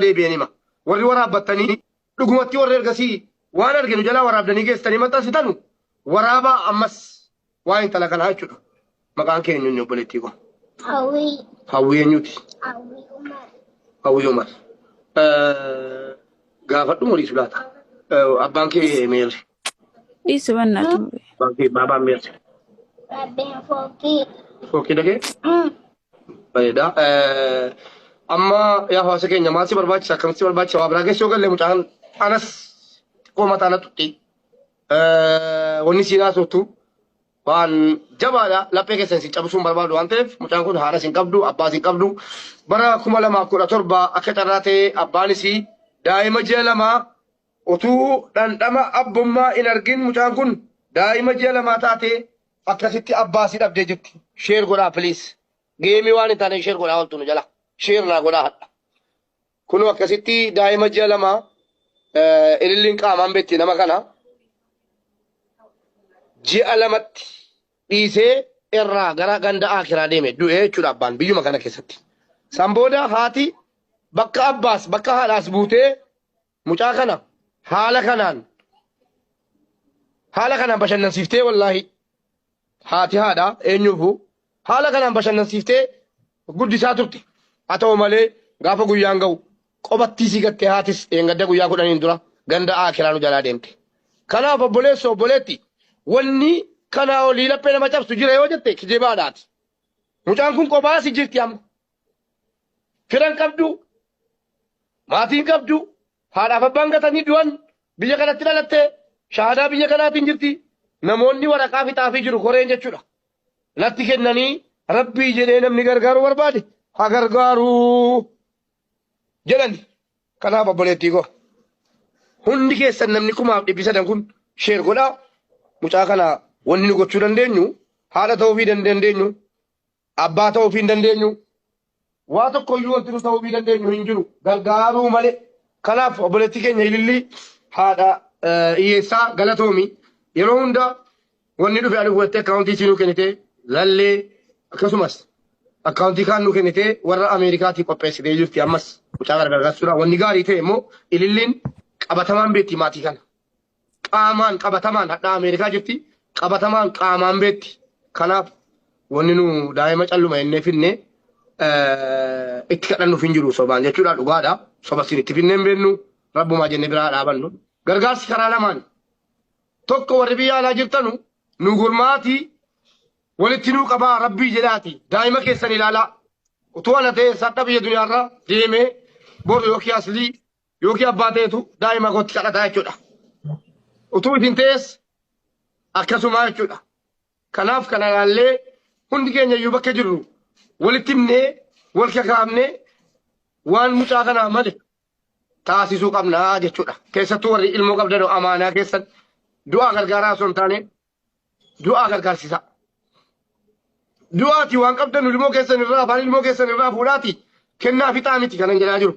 deebi'een hima. Warri waraabbattanii dhugumatti warri ergasii waan arge nu jalaa waraabdanii geessitanii maxxansitanu waraabaa ammas waa intala kanaa jechuudha. Maqaan kee eenyuun obboleettii koo? Hawwii. Hawwii eenyuuti? Hawwii Umar. Hawwii Umar. Gaafadhu muriisu laata? Abbaan kee meerre? Dhiisi wanna ture. Abbaan kee baabaan meerre? Rabbeen fooqii. Fooqii dhagee? Bareeda. Amma yaa hawaasa keenya maal si barbaachisa akkamitti si barbaachisa waa biraa keessa yoo galle mucaan anas xiqqoo mataa na tutti. Wanni siin haasoftu waan jabaadha laphee keessan isin cabsuun barbaadu waan ta'eef mucaan kun haadha isin qabdu abbaa isin qabdu bara kuma lamaa kudha torba akka carraa ta'e abbaan isii daa'ima ji'a lamaa utuu dhandhama abbummaa hin argin mucaan kun daa'ima ji'a lamaa taate Akkasitti abbaa si dhabdee jirti. Share godhaa please. Geemii waan hin taane share godhaa oltu nu jala. Share naa godhaa hadha. Kunoo akkasitti daa'ima ji'a lama eh, ililliin qaamaan beekti nama kana ji'a lamatti dhiisee irraa gara ganda akiraa deeme du'ee jechuudha abbaan biyyuma kana keessatti. San booda haati bakka abbaas bakka haadhaas buutee Mucaa kana haala kanaan haala kanaan bashannansiiftee wallaahi haati haadha eenyuufu haala kanaan bashannansiiftee guddisaa turte haa ta'u malee gaafa guyyaan ga'u qobattii sii gattee haatis dheengadda guyyaa kudhaniin dura ganda aakiraa nu jalaa deemte kanaaf obboleessa obboleetti wanni kanaa olii laphee nama cabsu jira yoo jette kijibaadhaati mucaan kun qophaa si jirti amma Firan qabdu, maatiin qabdu, haadhaaf abbaan gatanii du'an, biyya kanatti dhalatte, shaahadaa biyya kanaatiin jirti. Namoonni waraqaa fixaafii jiru koreen jechuudha. Natti kennanii rabbii jedhee namni gargaaruu barbaade ha gargaaruu jedhani. Kanaaf obboleettii koo hundi keessan namni kumaaf dhibbi sadan kun sheer godhaa. Mucaa kana wanni nu gochuu dandeenyu haadha ta'uufii dandeenyu Abbaa ta'uuf hin dandeenyu. Waa tokko iyyuu wanti nu ta'uufii dandeenyu hin jiru. Gargaaruu malee. Kanaaf obboleettii keenya ilillii haadha eh, hiyyeessaa galatoomi. Yeroo hunda wanni dhufe ani hubattee akkaawuntii isii nuu kennitee lallee akkasumas akkaawuntii kaan nuu kennitee warra Ameerikaatii qopheessitee jirti ammas mucaa gargaarsuudha. Wanni gaarii ta'e immoo ililliin qabatamaan beekti maatii kana. qaamaan qabatamaan hadhaa Ameerikaa jirti qabatamaan qaamaan beetti kanaaf wanni nu daa'ima calluma innee finne itti kadhannuuf hin jiru sobaan jechuudha dhugaadha soba siin itti finnee hin beennu rabbumaa jenne biraa dhaabannu gargaarsi karaa lamaan tokko warri biyya alaa jirtanu nu gurmaatii walitti nuu qabaa rabbii jedhaati daa'ima keessan ilaalaa utuu ana ta'e sadha biyya duniyaarra deemee boru yookiin aslii yookiin abbaa ta'etu daa'ima kootti kadhataa jechuudha. Utuu isin ta'es akkasumaa jechuudha. Kanaaf kana ilaallee hundi keenya iyyuu bakka jirru walitti himnee wal kakaafnee waan mucaa kanaa male taasisuu qabnaa jechuudha. Keessattuu warri ilmoo qabdan amaanaa keessan du'aa gargaaraa osoo hin taane du'aa gargaarsisaa. Du'aati waan qabdan ilmoo keessan irraa afaan ilmoo keessan irraa fuudhaati kennaa fixaa miti kanan jedhaa jiru.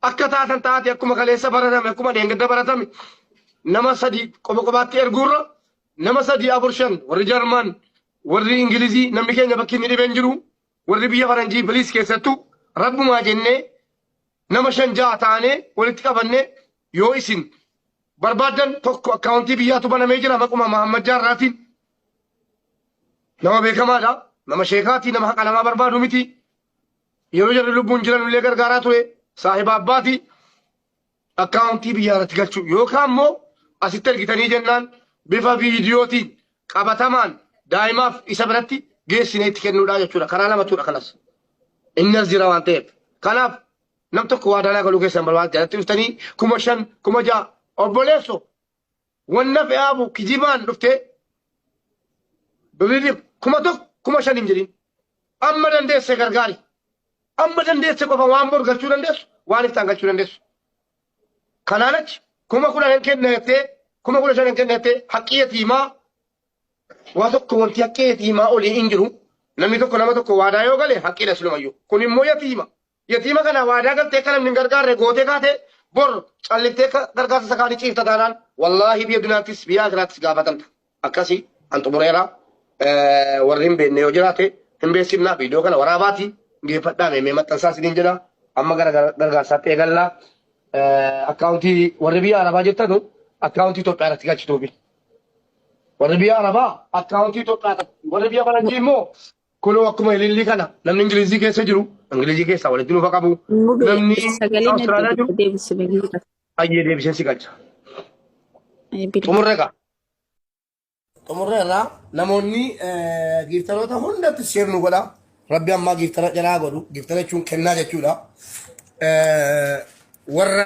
Akka taatan taate akkuma kaleessa baratame akkuma dheengadda baratame nama sadii qofa qofaatti erguurra nama sadii afur shan warri Jarman warri Ingilizii namni keenya bakki inni dhibeen jiru warri biyya Faranjii biliis keessattuu rabbumaa jennee nama shan ja'a taanee walitti qabannee yoo isin barbaadan tokko akkaawuntii biyyaatu banamee jira maquma Mahammad Jaarraatiin nama beekamaadha nama sheekaatii nama haqa namaa barbaadu miti Yeroo jarri lubbuun jiran illee gargaaraa ture saahiba abbaati akkaawuntii biyyaa irratti galchuu yookaan immoo asitti ergitanii jennaan bifa viidiyootiin qabatamaan daa'imaaf isa biratti geessinee itti kennuudhaa jechuudha. Karaa lamatudha kanas. Inni as jira waan ta'eef. Kanaaf nam tokko waa danaa galuu keessan barbaada jalatti dhuftanii kuma shan kuma ja'a obboleesso Wanna fe'aafu kijibaan dhuftee birrii kuma tokko kuma shan hin jedhin. Amma dandeesse gargaari. Amma dandeesse qofa waan bor galchuu dandeessu waan iftaan galchuu dandeessu. Kanaan achi kuma kudhan hin kenna jettee kuma kudha shan hin kenna jettee haqqii yatiimaa waa tokko wanti haqqii yatiimaa olii hin jiru. Namni tokko nama tokko waadaa yoo gale haqqiidha silumayyuu. Kun immoo yatiima. Yatiima kana waadaa galtee akka namni hin gargaarre gootee kaate bor calliftee akka gargaarsa isa kaanii ciifta taanaan wallaahi biyya duniyaattis biyya akiraattis gaafatamta. Akkasii an xumureera Eh, warri hin beekne yoo jiraate hin beeksifnaa viidiyoo kana waraabaati geeffadhaa meemee maxxansaa isiniin jedha amma gara gara- gargaarsaatti eegallaa Eh, akkaawuntii warri biyya arabaa jirtanu akkaawuntii Itoophiyaa irratti galchituufi. Warri biyya arabaa akkaawuntii Itoophiyaa irratti warri biyya faranjii immoo Kunoo akkuma ilillii kana namni Ingilizii keessa jiru Ingilizii keessaa walitti nuuf qabu Mube namni sagalee Awustiraaliyaa natti jiru deebisi bilbila. ayyee deebisee si galcha. Eh, Bilbila. Xumurre egaa. Xumurre irraa namoonni eh, giiftaroota hundatti sheer nu godha. Rabbi ammaa giiftara jalaa godhu. Giiftara jechuun kennaa jechuudha. Eh, Warra